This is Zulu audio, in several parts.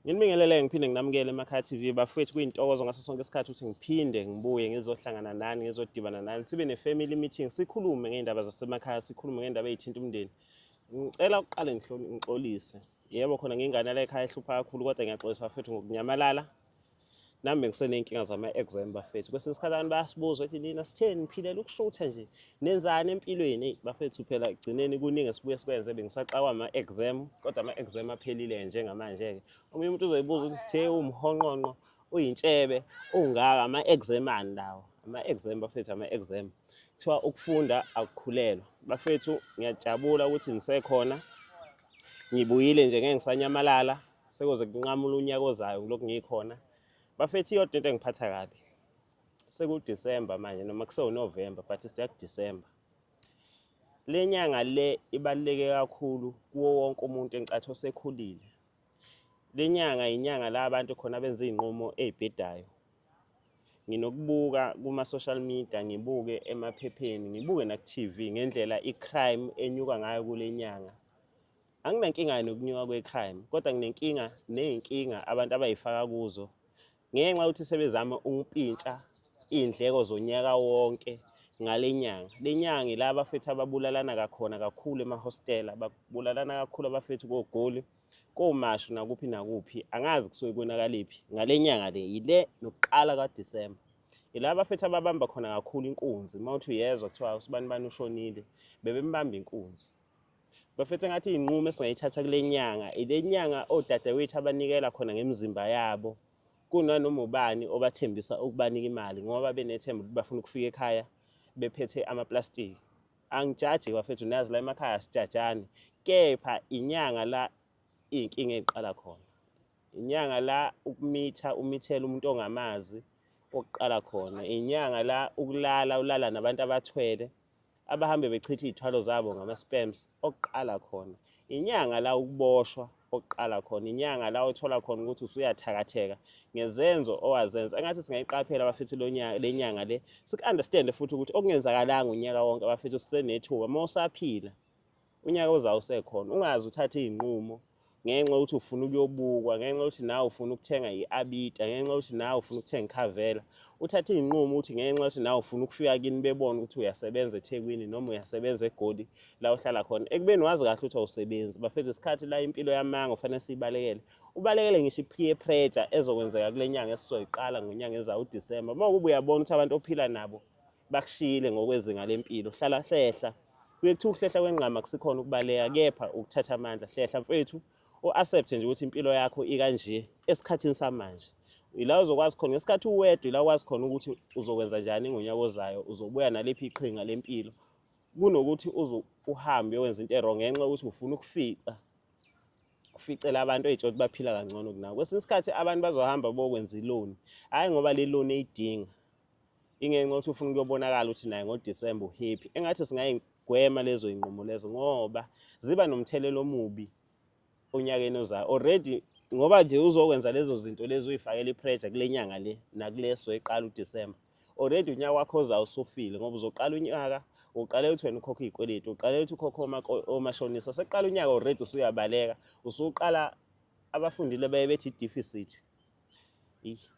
Nginibingelele ngiphinde nginamukele eMakhaya TV bafethu kuyintokozo ngaso sonke isikhathi ukuthi ngiphinde ngibuye ngizohlangana nani ngizodibana nani sibe ne-family meeting sikhulume ngey'ndaba zasemakhaya sikhulume ngey'ndaba ey'thinta umndeni ngicela ukuqale ngixolise yebo khona ngingane la ekhaya ehlupha kakhulu kodwa ngiyaxolisa bafethu ngokunyamalala nami ngiseney'nkinga zama-exam bafethu kwesinye isikhathi abantu bayasibuza ukuthi nina sitheni ngiphilela ukushutha nje nenzani empilweni eyi bafethu phela ekugcineni kuningi esibuye sikwenze bengisaxawa ama-exam kodwa ama-exam aphelile njengamanje-ke omunye umuntu uzoyibuza ukuthi sithe umhonqonqo uyintshebe ungaka ama-exam ani lawo ama-exam bafethu ama-exam kuthiwa ukufunda akukhulelwa bafethu ngiyajabula ukuthi ngisekhona ngibuyile nje ngeke ngisanyamalala Sekoze kunqamula unyaka ozayo ngilokhu ngikhona. Bafethi iyodwa into engiphatha kabi. SekuDisemba manje noma kuseWuNovember but siyakuDisemba. Le nyanga le ibaluleke kakhulu kuwo wonke umuntu engicathi osekhulile. Le nyanga yinyanga la abantu khona benza iy'nqumo ey'bhedayo. Nginokubuka kuma-social media, ngibuke emaphepheni, ngibuke naku-T_V ngendlela i-crime enyuka ngayo kule nyanga. Anginankinga nokunyuka kwe-crime kodwa nginenkinga ney'nkinga abantu abayifaka kuzo ngenxa yokuthi sebezame ukupintsha iy'ndleko zonyaka wonke ngale nyanga le nyanga ila abafethu ababulalana kakhona kakhulu emahostela babulalana kakhulu abafethu kogoli komashu nakuphi nakuphi angazi kusuke konakaliphi ngale nyanga le yile nokuqala kadisemba ila abafethu ababamba khona kakhulu inkunzi uma uthi uyezwa kuthiwa usibani bani ushonile bebembamba inkunzi Bafethu ngathi inqumo esingayithatha kule nyanga ile nyanga odadewethu abanikela khona ngemizimba yabo kunanoma ubani obathembisa ukubanika imali ngoba benethemba ukuthi bafuna ukufika ekhaya bephethe amaplastiki angijaji bafethu nazi la emakhaya sijajani kepha inyanga la iy'nkinga ey'qala khona inyanga la ukumitha umithela umuntu ongamazi okuqala khona inyanga la ukulala ulala nabantu abathwele abahambe bechitha iy'thwalo zabo ngama-spams okuqala khona inyanga la ukuboshwa okuqala khona inyanga la othola khona ukuthi usuyathakatheka ngezenzo owazenza engathi singayiqaphela abafethu le nyanga le siku-understande futhi ukuthi okungenzakalanga unyaka wonke abafethu sisenethuba uma usaphila unyaka ozayo usekhona ungaze uthathe iy'nqumo ngenxa yokuthi ufuna ukuyobukwa ngenxa yokuthi nawe ufuna ukuthenga i-abita ngenxa yokuthi nawe ufuna ukuthenga ikhavela uthathe iy'nqumo ukuthi ngenxa yokuthi nawe ufuna ukufika kini bebone ukuthi uyasebenza ethekwini noma uyasebenza egoli la uhlala khona ekubeni wazi kahle ukuthi awusebenzi bafeza isikhathi la impilo yamanga ufanele siyibalekele ubalekele ngisho i-peer pressure ezokwenzeka kule nyanga esizoyiqala ngonyanga ezayo udisemba uma kuba uyabona ukuthi abantu ophila nabo bakushiyile ngokwezinga lempilo hlala hlehla kuye kuthiwa ukuhlehla kwengqama kusikhona ukubaleka kepha ukuthatha amandla hlehla mfethu u-accepte nje ukuthi impilo yakho ikanje esikhathini samanje ila uzokwazi khona ngesikhathi uwedwa ila ukwazi khona ukuthi uzokwenza njani ngonyaka ozayo uzobuya naliphi iqhinga lempilo kunokuthi uze uhambe wenza into erong ngenxa yokuthi ufuna ukufica uficela abantu ey'tsho ukuthi baphila kangcono kunawo kwesinye isikhathi abantu bazohamba bokwenza iloni hhayi ngoba le loni eyidinga ingenxa yokuthi ufuna ukuyobonakala ukuthi naye ngodisemba uhappy engathi singayigwema lezo iy'nqumo lezo ngoba ziba nomthelela omubi onyakeni ozayo already ngoba nje uzokwenza lezo zinto lezi uyifakela ipressure kule nyanga le nakuleso eqala udisemba already unyaka wakho ozayo usufile ngoba uzoqala unyaka uqale ukuthi wena ukhokhe iy'kweletu uqale ukuthi ukhokhe omashonisa sekuqala unyaka already usuyabaleka usuqala abafundile baye bethi i-deficit Eish.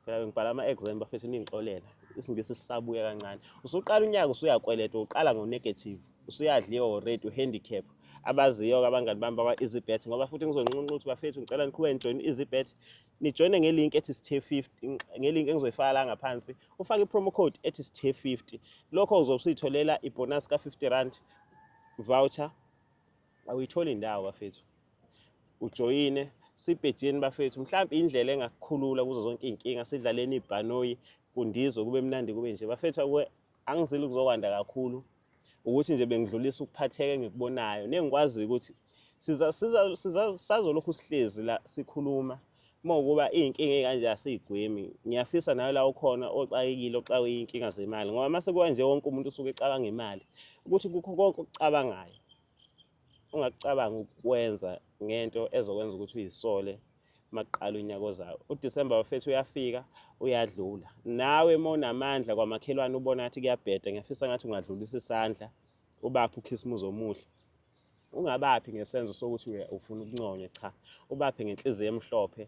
Phela ngibhala ama-exam bafethu ningixolela. Isingisi sisabuya kancane. Usuqala unyaka usuyakweleta, uqala ngo-negative. Usuyadliwa already uhandicap. Abaziyo-ke abangani bami bakwa-EasyBet ngoba futhi ngizonqunqa ukuthi bafethu ngicela niqhube nijoyine i-EasyBet. Nijoyine nge-link ethi sithe 50, nge-link engizoyifaka la ngaphansi. Ufake i-promo code ethi sithe 50. Lokho uzobe usuyitholela ibonus ka-50 rand voucher awuyitholi indawo bafethu ujoyine sibhejeni bafethu mhlawumbe indlela engakukhulula kuzo zonke iy'nkinga sidlaleni ibhanoyi kundizwe kube mnandi kube nje bafethu akwe angizile ukuzokwanda kakhulu ukuthi nje bengidlulisa ukuphatheka engikubonayo nengikwaziyo ukuthi sizolokhu sihlezi la sikhuluma uma ukuba iy'nkinga ey'kanje asiyigwemi ngiyafisa nayo la ukhona oxakekile oxakwe iy'nkinga zemali ngoba uma sekuba nje wonke umuntu usuke ecabanga imali ukuthi kukho konke okucabangayo ungakucabanga ukwenza ngento ezokwenza ukuthi uyisole makuqala unyaka ozayo udisemba bafethu uyafika uyadlula nawe uma unamandla kwamakhelwane ubona ngathi kuyabheda ngiyafisa ngathi ungadlulisa isandla ubaphi ukhisimuzi omuhle Ungabaphi ngesenzo sokuthi ufuna ukunconywa cha ubaphe ngenhliziyo emhlophe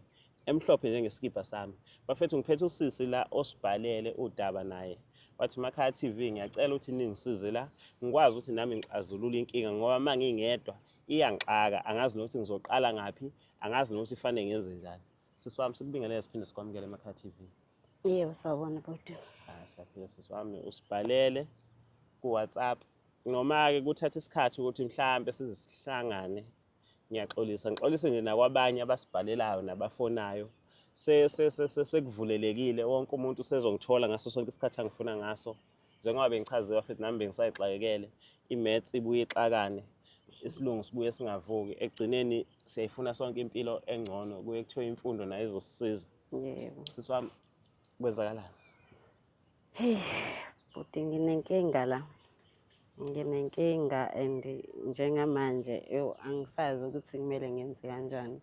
emhlophe njengesikibha sami bafethu ngiphethe usisi la osibhalele udaba naye wathi makhaya TV ngiyacela ukuthi ningisize la ngikwazi ukuthi nami ngixazulule inkinga ngoba uma ngingedwa iyangixaka angazi nokuthi ngizoqala ngaphi angazi nokuthi fanele ngenze njani sisi wami sikubingelele siphinde sikwamukele emakhaya TV yebo sawubona bhuti ah saphila sisi wami usibhalele ku WhatsApp Noma-ke kuthatha isikhathi ukuthi mhlawumbe size sihlangane ngiyaxolisa ngixolise nje nakwabanye abasibhalelayo nabafonayo sekuvulelekile wonke umuntu usezongithola ngaso sonke isikhathi angifuna ngaso njengoba bengichaziwa futhi nami bengisayixakekele i-mats ibuye ixakane isilungu sibuye singavuki ekugcineni siyayifuna sonke impilo engcono kuye kuthiwa imfundo nayo izosisiza yebo sisi wami kwenzakalani Hey, bhuti nginenkinga la. Nginenkinga and njengamanje yo angisazi ukuthi kumele ngenze kanjani.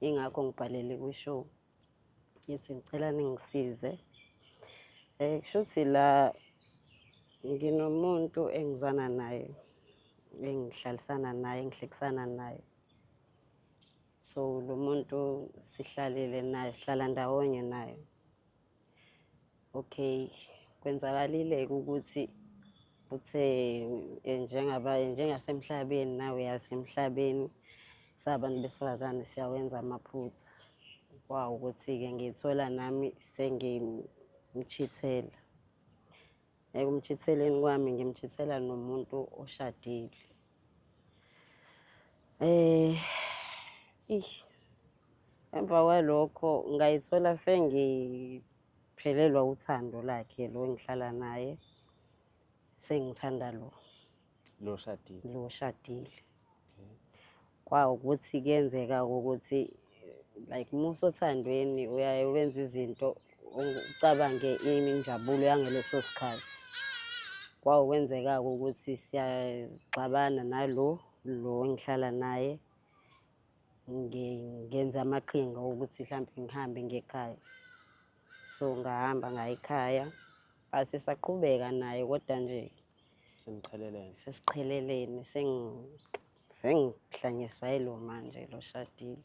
Ingakho ngibhalele kwishow. Ngithi ngicela ningisize. Eh kushuthi la nginomuntu engizwana naye engihlalisana naye engihlekisana naye so lo muntu sihlalile naye sihlala ndawonye naye okay kwenzakalile-ke ukuthi uthe eh, njengaba njengasemhlabeni nawe uyasemhlabeni sabantu besifazane siyawenza amaphutha kwawu ukuthi-ke ngithola nami sengimchithela Ekumchitheleni kwami ngimchithela nomuntu oshadile. Eh ish emva kwalokho ngayithola sengiphelelwa uthando lakhe lo engihlala naye sengithanda lo. lo oshadile lo oshadile okay. kwawukuthi kuyenzeka ukuthi like musa othandweni uyaye wenza izinto ucabange injabulo yangeleso sikhathi kwawukwenzeka-ke ukuthi siyaxabana nalo lo engihlala naye ngenze amaqhinga okuthi mhlawumbe ngihambe ngekhaya so ngahamba ngayikhaya Hayi sisaqhubeka naye kodwa nje seniqhelelene. Sesiqhelelene sengi sengihlanyiswa yilo manje lo shadile.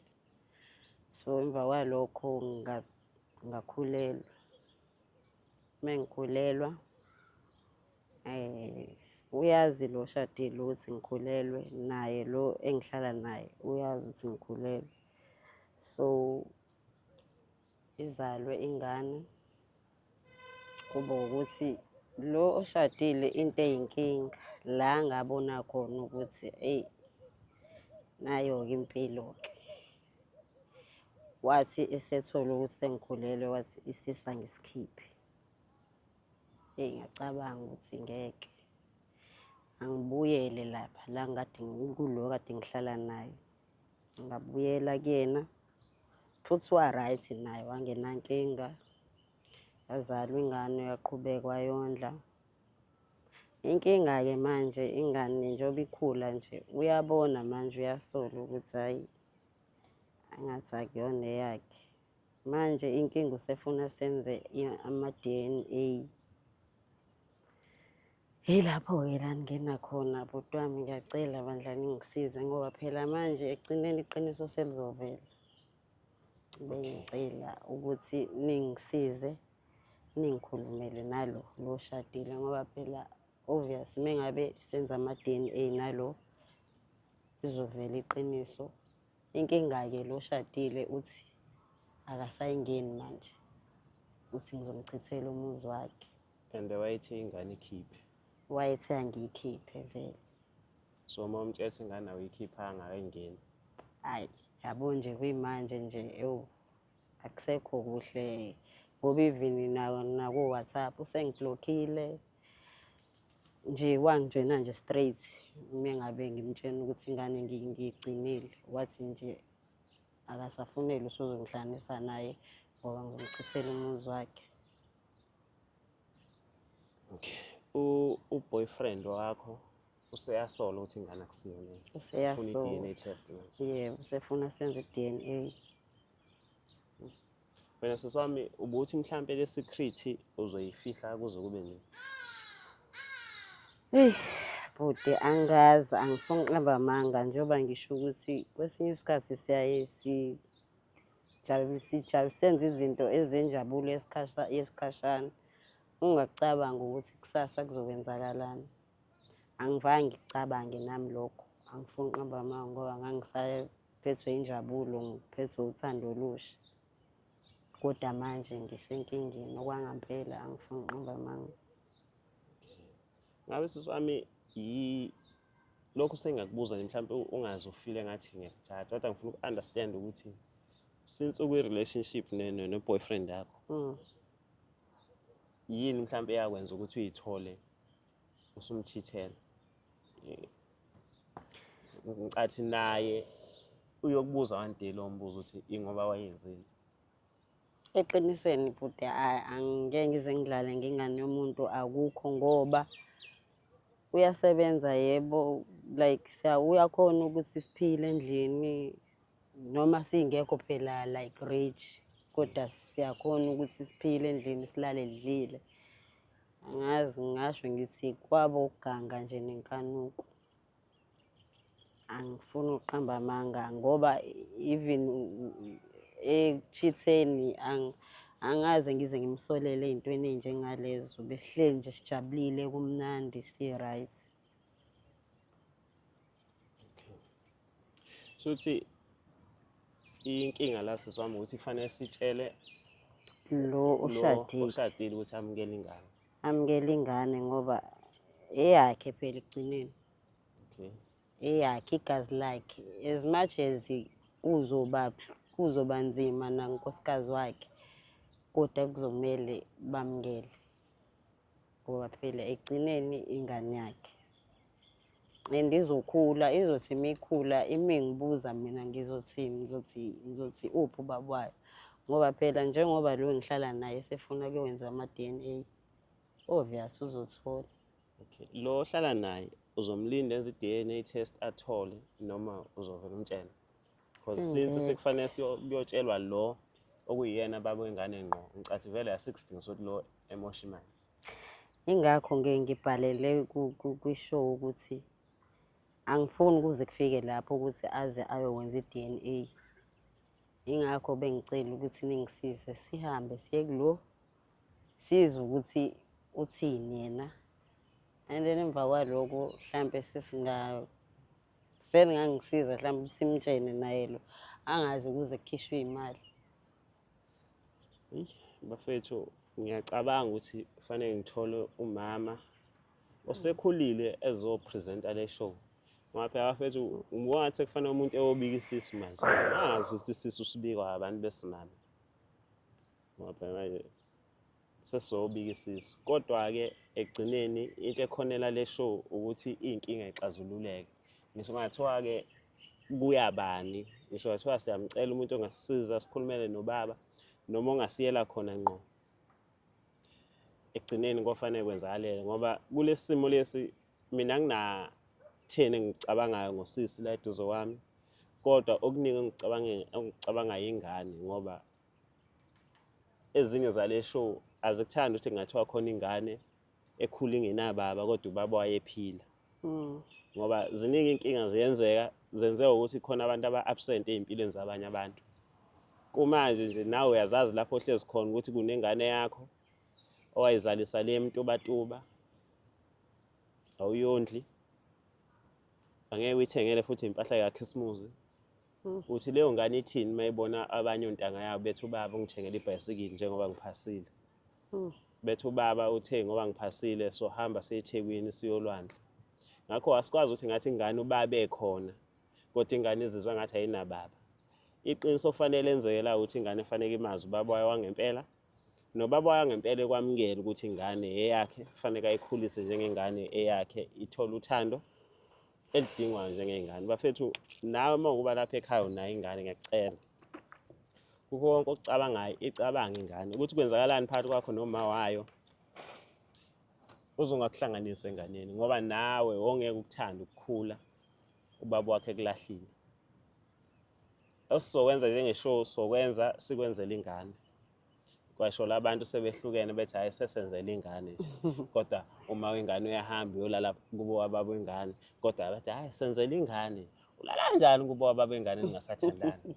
So emva kwalokho ngakhulelwa. Mengikhulelwa eh uyazi lo shadile ukuthi ngikhulelwe naye lo engihlala naye uyazi ukuthi ngikhulelwe. So izalwe ingane kube ukuthi lo oshadile into eyinkinga la ngabona khona ukuthi eyi nayo-ke impilo-ke wathi esethola ukuthi sengikhulelwe wathi isisu angisikhiphe eyi ngacabanga ukuthi ngeke angibuyele lapha la ngikade ngikulo kade ngihlala naye ngabuyela kuyena Futhi wa-right naye wangenankinga. Yazalwa ingane uyaqhubeka wayondla. Inkinga-ke manje ingane njengoba ikhula nje uyabona manje uyasola ukuthi hhayi angathi akuyona eyakhe. Manje inkinga usefuna senze ama-D_N_A. Yilapho-ke la ngingena khona bhuti wami ngiyacela bandla ningisize ngoba phela manje ekugcineni iqiniso selizovela. Bengicela ukuthi ningisize ningikhulumele nalo lo oshadile ngoba phela obvious uma ngabe senza ama-DNA nalo izovela iqiniso. Inkinga-ke lo oshadile uthi akasayingeni manje uthi ngizomchithela umuzi wakhe. and wayethe ingane ikhiphe wayethe angiyikhiphe vele so uma umtshela ukuthi ingane awuyikhiphanga ayingeni hayi yabo nje kuyimanje nje ewu akusekho kuhle ngoba even naku-whatsapp usengiblokhile nje wangitshena nje straight uma ngabe ngimtshena ukuthi ingane ngiyigcinile wathi nje akasafunele usuzongihlanisa naye ngoba ngizomchithela umuzi wakhe Okay. U u boyfriend wakho useyasola ukuthi ingane akusiyona. Useyasola. Ufuna i-DNA test manje. Yebo, usefuna senze i-DNA. Wena sisi wami ubuthi mhlampe le secret uzoyifihla kuze kube nini? Hey, bhuti angazi angifuni ukunqaba amanga njengoba ngisho ukuthi kwesinye isikhathi siyaye si senze izinto ezenjabulo yesikhashana ungakucabanga ukuthi kusasa kuzokwenzakalani angivange ngikucabange nami lokho angifuni uqamba amanga ngoba ngangisaphethwe injabulo ngiphethwe uthando olusha kodwa manje ngisenkingeni okwangampela angifuni uqamba amanga ngabe sisami lokhu sengakubuza nje mhlawumbe ungazi ufile ngathi ngiyakujaja kodwa ngifuna uku-understand ukuthi since ukwi-relationship ne-boyfriend yakho mm. yini mhlawumbe eyakwenza ukuthi uyithole usumchithela ngicathi naye uyokubuza one day lowo mbuzo ukuthi ingoba wayenzeni Eqinisweni bhuti hayi angike ngize ngidlale ngengane yomuntu akukho ngoba uyasebenza yebo like uyakhona ukuthi siphile endlini noma singekho phela like rich kodwa siyakhona ukuthi siphile endlini silale lidlile angazi ngasho ngithi kwabo ukuganga nje nenkanuko angifuni ukuqamba amanga ngoba even ekuchitheni angaze ngize ngimsolele ey'ntweni ey'njengalezo besihleli nje sijabulile kumnandi si-right shuthi inkinga la siswami ukuthi kufanele sitshele lo oshadile ukuthi amukele ingane amukele ingane ngoba eyakhe phela ekugcineni okay eyakhe igazi lakhe as much as kuzoba kuzoba nzima nankosikazi wakhe kodwa kuzomele bamukele ngoba phela ekugcineni ingane yakhe and izokhula izothi mikhula imingibuza mina ngizothini ngizothi ngizothi uphi ubaba wayo ngoba phela njengoba lo ngihlala naye sefuna kuyowenziwa ama-d n a obvious uzothola okay lo ohlala naye uzomlinda enze i-d n a test athole noma uzovela umtshela because mm, since mm. sekufanele kuyotshelwa lo okuyiyena baba wengane ngqo ngicathi vele asikudingi sokuthi lo emosha imali Ingakho nge ngibhalele kwishow ukuthi angifuni kuze kufike lapho ukuthi aze ayokwenza i-DNA. Ingakho bengicela ukuthi ningisize sihambe siye kulo sizwe ukuthi uthini yena. And then emva kwaloko mhlampe sesinga seningangisiza mhlampe simtshene naye lo angazi kuze kukhishwe imali. bafethu ngiyacabanga ukuthi kufanele ngithole umama osekhulile ezopresenta le show ngoba phela bafethu ngibona ukuthi kufanele umuntu eyobika isisu manje angazi ukuthi isisu sibikwa abantu besimame ngoba phela manje sesizobika isisu kodwa-ke ekugcineni into ekhonela le show ukuthi iy'nkinga ixazululeke ngisho kungathiwa-ke kuyabani ngisho kungathiwa siyamcela umuntu ongasisiza sikhulumele nobaba noma ongasiyela khona ngqo ekugcineni kofanele kwenzakalele ngoba kulesi simo lesi mina nginatheni engicabangayo ngosisi la eduze kwami kodwa okuningi engicabangayo ingane ngoba ezinye zale show azikuthandi ukuthi kungathiwa khona ingane ekhula ingenababa kodwa ubaba wayephila hmm. ngoba ziningi inkinga ziyenzeka zenzeka ukuthi khona abantu aba-absent ey'mpilweni zabanye abantu kumanje nje nawe uyazazi lapho ohlezi khona ukuthi kunengane yakho owayizalisa le mtubatuba awuyondli angeke uyithengele futhi impahla yakhisimuzi uthi leyo ngane ithini uma ibona abanye ontanga yabo bethi ubaba ungithengele ibhayisikili njengoba ngiphasile bethi ubaba uthe ngoba ngiphasile so hamba sethekwini siyolwandle ngakho asikwazi ukuthi ngathi ingane ubabe khona kodwa ingane izizwa ngathi ayinababa iqiniso kufanele enzekela ukuthi ingane efaneke imazi ubaba wayo wangempela nobaba wayo ngempela ekwamukela ukuthi ingane eyakhe kufaneke ayikhulise njengengane eyakhe ithole uthando elidingwayo njengey'ngane bafethu nawe uma ukuba lapha ekhaya unayo ingane ngiyacela kukho konke okucabangayo icabanga ingane ukuthi kwenzakalani phakathi kwakho noma wayo uzongakuhlanganisa enganeni ngoba nawe wongeke ukuthanda ukukhula ubaba wakhe kulahlile osizokwenza njengeshow sokwenza sikwenzela ingane kwashola abantu sebehlukene bethi hayi sesenzela ingane nje kodwa uma wengane uyahamba uyolala kubo wababa wengane kodwa bathi hayi senzela ingane ulala kanjani kubo wababa wengane ningasathandani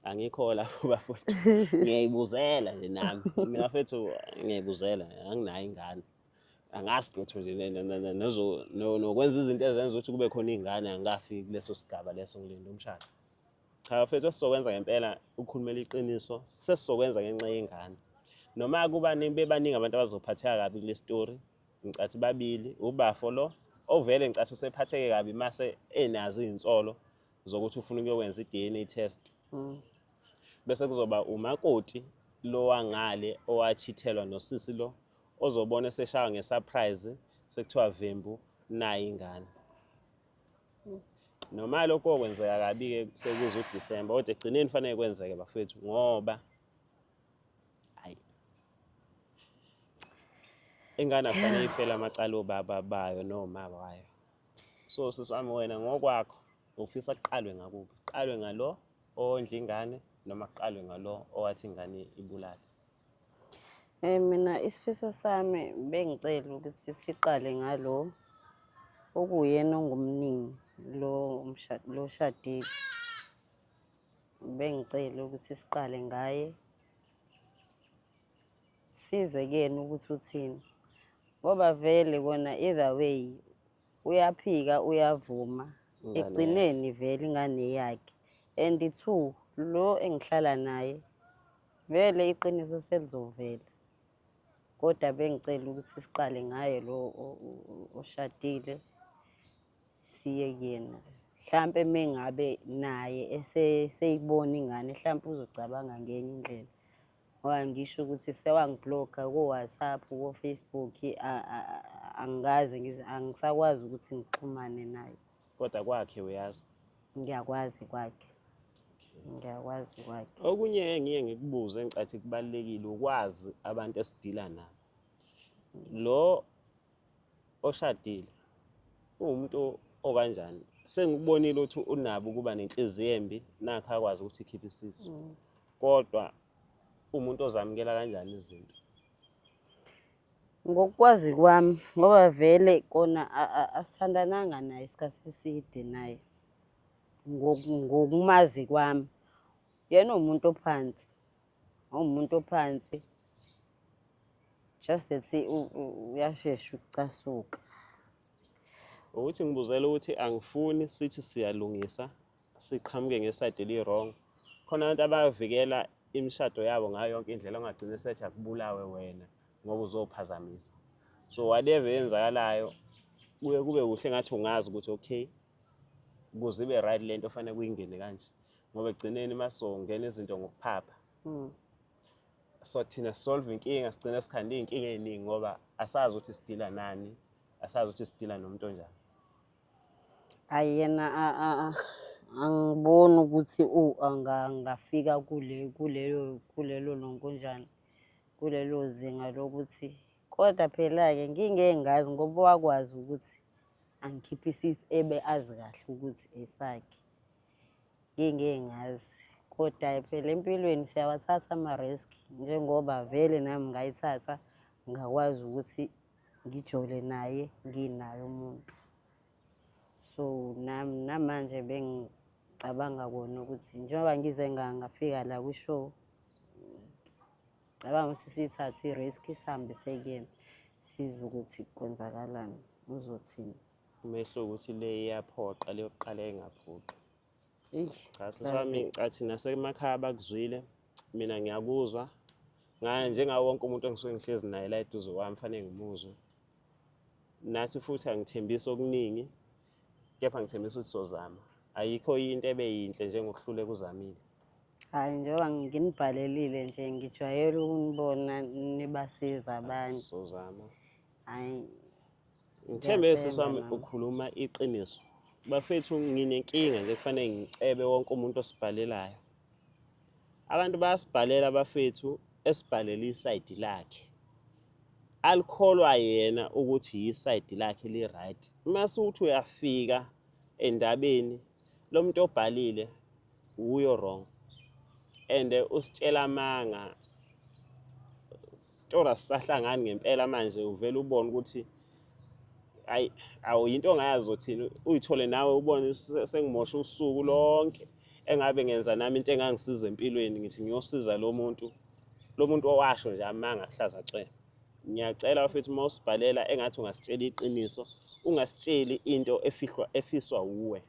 angikho lapho bafowethu ngiyayibuzela nje nami mina fethu ngiyayibuzela anginayo ingane angazi lutho nje nokwenza izinto ezenza ukuthi kube khona iy'ngane angikafi kuleso sigaba leso ngilinde umshado Cha bafethu esizokwenza ngempela ukukhulumela iqiniso sesizokwenza ngenxa yengane. Noma kuba bebaningi abantu abazophatheka kabi kule story ngicathi babili ubafo lo ovele ngicathi usephatheke kabi mase enazo izinsolo zokuthi ufuna ukuyokwenza i-DNA test. Mm. Bese kuzoba umakoti lo wangale owachithelwa nosisi lo ozobona eseshawa ngesurprise sekuthiwa vembu nayi ingane. noma lokho kokwenzeka kabi-ke sekuze udisemba kodwa egcineni kufanele kwenzeke bafethu ngoba hayi ingane akufanele ifele amacala obaba bayo noma wayo so sisi wami wena ngokwakho ufisa kuqalwe ngakuphi kuqalwe ngalo ondla ingane noma kuqalwe ngalo owathi ingane ibulale Eh mina isifiso sami bengicela ukuthi siqale ngalo okuyena ongumnini lo umshado lo shadile. Bengicela ukuthi siqale ngaye sizwe kuyena ukuthi uthini ngoba vele kona either way uyaphika uyavuma ekugcineni vele ingane yakhe and two lo engihlala naye Vele iqiniso selizovela. Kodwa bengicela ukuthi siqale ngaye lo oshadile siye kuyena. Mhlampe mengabe naye eseyibona ingane mhlampe uzocabanga ngenye indlela. Ngoba ngisho ukuthi sewangibloka ko-WhatsApp, ko-Facebook angikaze angisakwazi ukuthi ngixhumane naye. Kodwa kwakhe uyazi. ngiyakwazi kwakhe ngiyakwazi kwakhe okunye engiye ngikubuze engicathi kubalekile ukwazi abantu esidila nabo lo oshadile uwumuntu okanjani sengikubonile ukuthi unabo ukuba nenhliziyo embi nakho akwazi ukuthi ikhiphe isisu mm. kodwa umuntu ozamukela kanjani izinto Ngokwazi kwami ngoba vele kona asithandananga naye isikhathi eside naye ngokumazi kwami. Yena uwumuntu ophansi, uwumuntu ophansi just that uyashesha ukucasuka. ukuthi ngibuzela ukuthi angifuni sithi siyalungisa siqhamuke ngesayidi eli-wrong khona abantu abavikela imishado yabo ngayo yonke indlela ongagcina esethi akubulawe wena ngoba uzophazamisa so whatever eyenzakalayo kuye kube kuhle ngathi ungazi ukuthi okay kuze ibe right le nto fanele kuyingene kanje ngoba ekugcineni uma sizongena izinto ngokuphapha hmm. so thina solve inkinga sigcina sikhanda iy'nkinga ey'ningi ngoba asazi ukuthi sidila nani asazi ukuthi sidila nomuntu onjani ayi yena angiboni ukuthi angafika kulelo kulelo lonkonjani kulelo zinga lokuthi kodwa phela-ke ngingengazi ngoba wakwazi ukuthi angikhiphe isithi ebe azi kahle ukuthi esakhe ngeke ngeke ngazi kodwa phela empilweni siyawathatha ama-risk njengoba vele nami ngayithatha ngakwazi ukuthi ngijole naye nginaye umuntu so nami namanje bengicabanga kona ukuthi njengoba ngize ngangafika la kwishow cabanga ukuthi sithathe i-risk sihambe sekuyena sizwe ukuthi kwenzakalani uzothini umehluko ukuthi le iyaphoqa leyokuqala engaphoqi cha sisami athi nasemakhaya bakuzwile mina ngiyakuzwa ngaye njengawo wonke umuntu engisuke ngihlezi naye la eduze kwami fanele ngimuzwe nathi futhi angithembisi okuningi kepha ngithembisa ukuthi sozama ayikho into ebe yinhle njengokuhluleka uzamile hayi njengoba nginibhalelile nje ngijwayele ukunibona nibasiza abantu sozama hayi ngithembe siswami ukhuluma iqiniso bafethu nginenkinga nje kufanele ngicebe wonke umuntu osibhalelayo abantu bayasibhalela bafethu esibhalela isayidi lakhe alikholwa yena ukuthi yisayidi lakhe li-right uma siwuthi uyafika endabeni lo muntu obhalile uyo wrong and usitshela amanga sitora sisahlangani ngempela manje uvela ubona ukuthi ayi awu yinto ongayazi uzothini uyithole nawe ubone sengimosha usuku lonke engabe ngenza nami into engangisiza empilweni ngithi ngiyosiza lo muntu lo muntu owasho nje amanga kuhlaza cwela ngiyacela futhi uma usibhalela engathi ungasitshela iqiniso ungasitsheli into efihlwa efiswa wuwe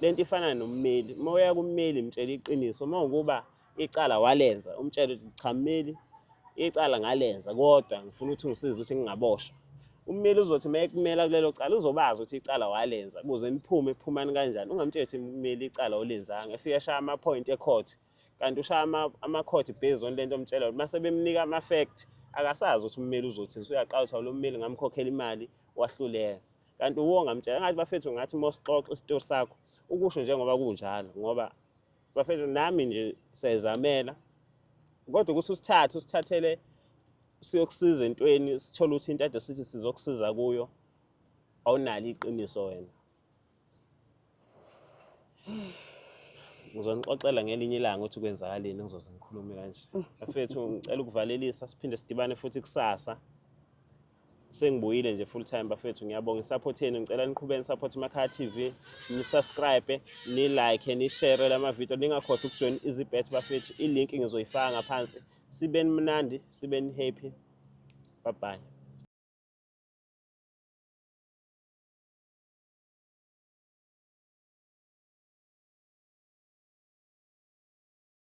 lento ifana nommeli uma uya kummeli mtshela iqiniso uma ukuba icala walenza umtshela ukuthi cha mmeli icala ngalenza kodwa ngifuna ukuthi ngisize ukuthi ngingaboshwa ummeli uzothi uma ekumela kulelo cala uzobazi ukuthi icala walenza kuze niphume phumani kanjani ungamtsheli ukuthi mmeli icala olenzanga efike shaya amaphoyinti ecourt kanti ushaya amakhothi based on lento omtshela ukuthi uma sebemnika ama-fact akasazi ukuthi ummeli uzothini so uyaqala ukuthi awulo mmeli ngamkhokhela imali wahluleka kanti uwonga mtshela ngathi bafethu ngathi mosixoxa isitori sakho ukusho njengoba kunjalo ngoba bafethu nami nje siyazamela kodwa ukuthi usithathe usithathele siyokusiza entweni sithole ukuthi into ade sithi sizokusiza kuyo awunalo iqiniso wena ngizonixoxela ngelinye ilanga ukuthi kwenzakaleni ngizoze ngikhulume kanje bafethu ngicela ukuvalelisa siphinde sidibane futhi kusasa sengibuyile nje full time bafethu ngiyabonga isupport yenu ngicela niqhubeke nisupport Makhaya TV nisubscribe ni like ni share lama video ningakhohlwa ukujoin izibet bafethu i link ngizoyifaka ngaphansi sibeni mnandi sibeni happy bye bye